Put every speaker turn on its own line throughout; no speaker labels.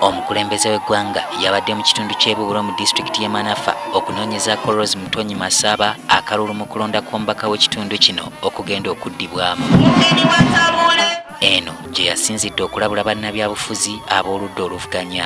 omukulembeze w'eggwanga yabadde mu kitundu ky'ebubulo mu disitulikiti y'e manafa okunoonyezaako rose mutonyi masaba akalulu mu kulonda kw'omubaka w'ekitundu kino okugenda okuddibwamu eno gye yasinzidde okulabula bannabyabufuzi ab'oludda oluvuganya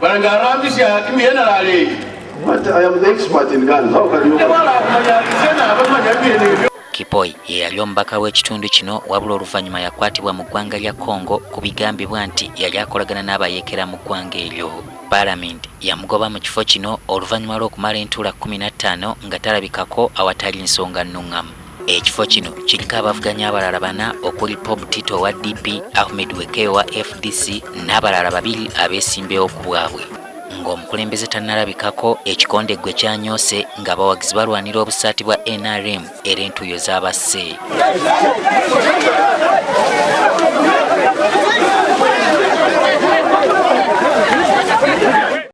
Banange arambisya hati muyena lale. But I am the expert in guns. How can you? Wala kumanya sena abamanya bine
byo. Kipoi ye yali omubaka w'ekitundu kino wabula oluvannyuma yakwatibwa mu ggwanga lya Congo ku bigambibwa nti yali akolagana n'abayeekera mu ggwanga eryo. Paalamenti yamugoba mu kifo kino oluvannyuma lw'okumala entuula kkumi na ttaano nga talabikako awatali nsonga nnuŋŋamu. Ekifo kino kiriko abavuganya abalala bana okuli Bob Tito owa DP, Ahmed Weke owa FDC n'abalala babiri abeesimbewo ku bwabwe. Ng'omukulembeze tannalabikako, ekikonde gwe kyanyoose ng'abawagizi balwanira obusaati bwa NRM era entuuyo zaabasse.